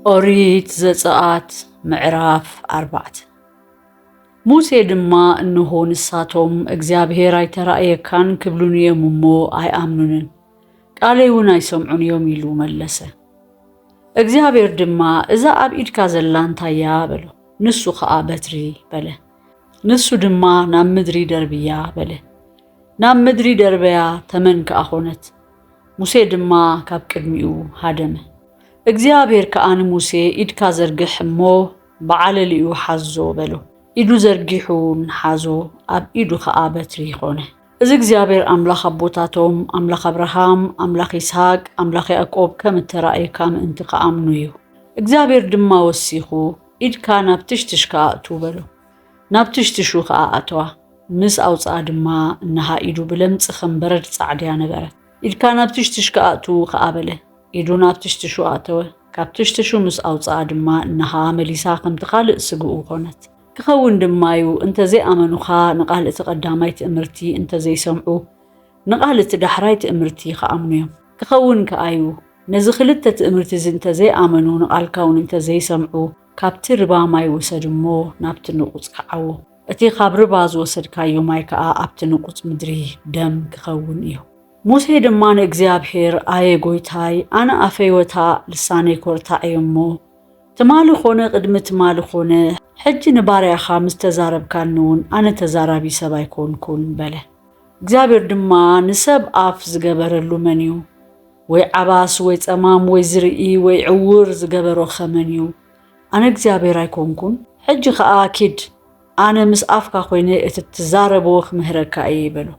ኦሪት ዘፀኣት ምዕራፍ ኣርባዕተ ሙሴ ድማ እንሆ ንሳቶም እግዚኣብሔር ኣይተራእየካን ክብሉን እዮም እሞ ኣይኣምኑንን ቃለይ እውን ኣይሰምዑን እዮም ኢሉ መለሰ እግዚኣብሔር ድማ እዛ ኣብ ኢድካ ዘላ እንታይ እያ በሎ ንሱ ከዓ በትሪ በለ ንሱ ድማ ናብ ምድሪ ደርብያ በለ ናብ ምድሪ ደርበያ ተመን ከዓ ኾነት ሙሴ ድማ ካብ ቅድሚኡ ሃደመ። እግዚኣብሄር ከኣ ንሙሴ፣ ኢድካ ዘርግሕ እሞ ብዓለሊኡ ሓዞ፣ በሎ። ኢዱ ዘርጊሑ ውን ሓዞ፣ ኣብ ኢዱ ኸኣ በትሪ ኾነ። እዚ እግዚኣብሄር ኣምላኽ ኣቦታቶም፣ ኣምላኽ ኣብርሃም፣ ኣምላኽ ይስሃቅ፣ ኣምላኽ ያእቆብ ከም እተራእየካ ምእንቲ ኸኣምኑ እዩ። እግዚኣብሄር ድማ ወሲኹ፣ ኢድካ ናብ ትሽትሽካ ኣእቱ፣ በሎ። ናብ ትሽትሹ ከኣ ኣተዋ። ምስ ኣውጽኣ ድማ እንሃ ኢዱ ብለምጽ ከም በረድ ጻዕድያ ነበረት። ኢድካ ናብ ትሽትሽ ክኣቱ ከኣ በለ። ኢዱ ናብ ትሽትሹ ኣእተወ። ካብ ትሽትሹ ምስ ኣውጽኣ ድማ እንሃ መሊሳ ከምቲ ካልእ ስግኡ ኮነት። ክኸውን ድማዩ እንተ ዘይኣመኑኻ ንቃል እቲ ቀዳማይ ትእምርቲ እንተ ዘይሰምዑ ንቃል እቲ ዳሕራይ ትእምርቲ ክኣምኑ እዮም። ክኸውን ከኣዩ ነዚ ክልተ ትእምርቲዚ እንተ ዘይኣመኑ ንቃልካውን እንተ ዘይሰምዑ ካብቲ ርባ ማይ ውሰድ እሞ ናብቲ ንቑጽ ክዓዎ፣ እቲ ኻብ ርባ ዝወሰድካዮ ማይ ከኣ ኣብቲ ንቑጽ ምድሪ ደም ኪኸውን እዩ። ሙሴ ድማ ንእግዚኣብሄር፣ ኣየ ጐይታይ፣ ኣነ ኣፈይ ወታእ፣ ልሳነይ ኰርታዕ እየ እሞ፣ ትማሊ ዀነ ቕድሚ ትማሊ ዀነ፣ ሕጂ ንባርያኻ ምስ ተዛረብካኒውን፣ ኣነ ተዛራቢ ሰብ ኣይኰንኩን፣ በለ። እግዚኣብሄር ድማ፣ ንሰብ ኣፍ ዝገበረሉ መን እዩ? ወይ ዓባስ ወይ ጸማም ወይ ዝርኢ ወይ ዕዉር ዝገበሮ ከ መን እዩ ኣነ እግዚኣብሔር ኣይኮንኩን ሕጂ ከኣ ኪድ ኣነ ምስ ኣፍካ ኮይነ እቲ ትዛረቦ ክምህረካ እየ በሎ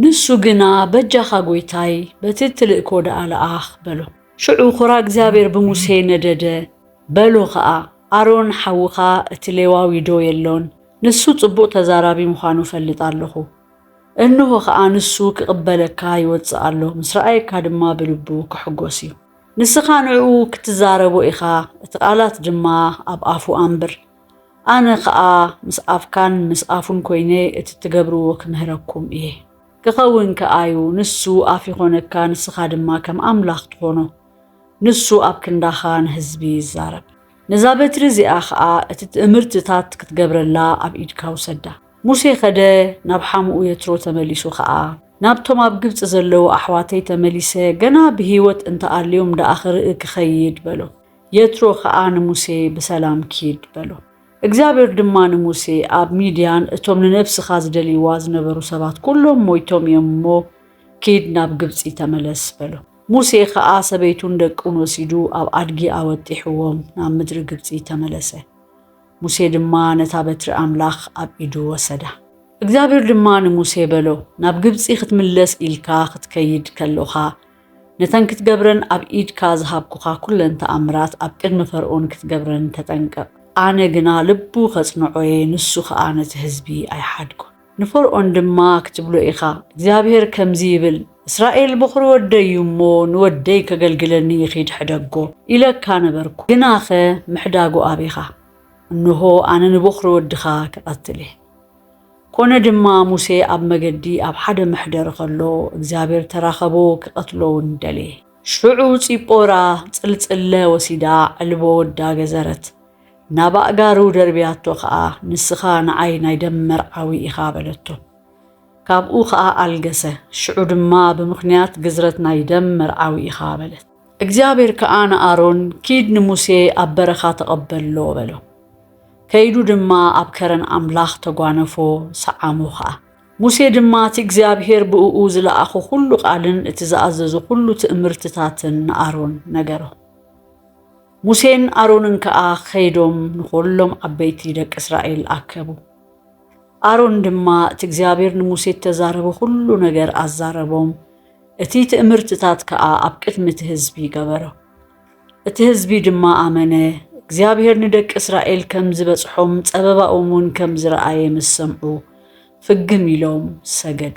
ንሱ ግና በጃካ ጎይታይ በቲ እትልእኮ ደኣ ለኣኽ በሎ። ሽዑ ኹራ እግዚኣብሔር ብሙሴ ነደደ በሎ ከኣ ኣሮን ሓውካ እቲ ሌዋዊ ዶ የሎን ንሱ ጽቡቅ ተዛራቢ ምዃኑ እፈልጥ ኣለኹ። እንሆ ኸኣ ንሱ ኪቕበለካ ይወጽእ ኣሎ፣ ምስ ረኣየካ ድማ ብልቡ ኪሕጐስ እዩ። ንስኻ ንእኡ ክትዛረቦ ኢኻ፣ እቲ ቓላት ድማ ኣብ ኣፉ ኣንብር። ኣነ ኸኣ ምስ ኣፍካን ምስ ኣፉን ኰይነ እቲ እትገብርዎ ክምህረኩም እየ። ኪኸውን ከኣ እዩ፣ ንሱ ኣፍ ይዀነካ፣ ንስኻ ድማ ከም ኣምላኽ ትዀኖ። ንሱ ኣብ ክንዳኻ ንህዝቢ ይዛረብ። ነዛ በትሪ እዚኣ ኸኣ እቲ ትእምርትታት ክትገብረላ ኣብ ኢድካ ውሰዳ። ሙሴ ኸደ፣ ናብ ሓሙኡ የትሮ ተመሊሱ ኸኣ፣ ናብቶም ኣብ ግብጺ ዘለዉ ኣሕዋተይ ተመሊሰ ገና ብህይወት እንተ ኣልዮም ደኣ ኽርኢ ክኸይድ፣ በሎ። የትሮ ኸኣ ንሙሴ፣ ብሰላም ኪድ፣ በሎ። እግዚኣብሄር ድማ ንሙሴ፣ ኣብ ሚድያን እቶም ንነብስኻ ዝደልይዋ ዝነበሩ ሰባት ኵሎም ሞይቶም እዮም እሞ፣ ኪድ ናብ ግብጺ ተመለስ፣ በሎ። ሙሴ ኸኣ ሰበይቱን ደቁን ወሲዱ ኣብ ኣድጊ ኣወጢሕዎም ናብ ምድሪ ግብጺ ተመለሰ። ሙሴ ድማ ነታ በትሪ ኣምላኽ ኣብ ኢዱ ወሰዳ። እግዚኣብሄር ድማ ንሙሴ በሎ፣ ናብ ግብጺ ክትምለስ ኢልካ ክትከይድ ከሎኻ፣ ነተን ክትገብረን ኣብ ኢድካ ዝሃብኩኻ ኵለን ተኣምራት ኣብ ቅድሚ ፈርኦን ክትገብረን ተጠንቀቕ። ኣነ ግና ልቡ ኸጽንዖ እየ፣ ንሱ ኸኣ ነቲ ህዝቢ ኣይሓድጎን። ንፈርኦን ድማ ክትብሎ ኢኻ፣ እግዚኣብሄር ከምዚ ይብል፣ እስራኤል በዅሪ ወደይ እዩ እሞ፣ ንወደይ ኬገልግለኒ ይኺድ ሕደጎ፣ ኢለካ ነበርኩ፣ ግናኸ ምሕዳጉ ኣቢኻ፣ እንሆ፣ ኣነ ንበዅሪ ወድኻ ክቐትል እየ። ኰነ ድማ፣ ሙሴ ኣብ መገዲ ኣብ ሓደ መሕደሪ ኸሎ፣ እግዚኣብሄር ተራኸቦ፣ ኪቐትሎ እውን ደለየ። ሽዑ ጺጶራ ጽልጽለ ወሲዳ፣ ዕልቦ ወዳ ገዘረት፣ ናብ ኣእጋሩ ደርብያቶ ኸኣ ንስኻ ንዓይ ናይ ደም መርዓዊ ኢኻ በለቶ። ካብኡ ኸኣ ኣልገሰ። ሽዑ ድማ ብምኽንያት ግዝረት ናይ ደም መርዓዊ ኢኻ በለት። እግዚኣብሔር ከኣ ንኣሮን ኪድ ንሙሴ ኣብ በረኻ ተቐበሎ በሎ። ከይዱ ድማ ኣብ ከረን ኣምላኽ ተጓነፎ ሰዓሞ ኸኣ። ሙሴ ድማ እቲ እግዚኣብሔር ብእኡ ዝለኣኾ ዅሉ ቓልን እቲ ዝኣዘዞ ዅሉ ትእምርትታትን ንኣሮን ነገሮ። ሙሴን ኣሮንን ከኣ ኸይዶም ንዅሎም ዓበይቲ ደቂ እስራኤል ኣከቡ። ኣሮን ድማ እቲ እግዚኣብሔር ንሙሴ እተዛረቦ ዅሉ ነገር ኣዛረቦም፣ እቲ ትእምርትታት ከኣ ኣብ ቅድሚ እቲ ህዝቢ ገበሮ። እቲ ህዝቢ ድማ ኣመነ፣ እግዚኣብሔር ንደቂ እስራኤል ከም ዝበጽሖም ጸበባኦም እውን ከም ዝረኣየ ምስ ሰምዑ፣ ፍግም ኢሎም ሰገዱ።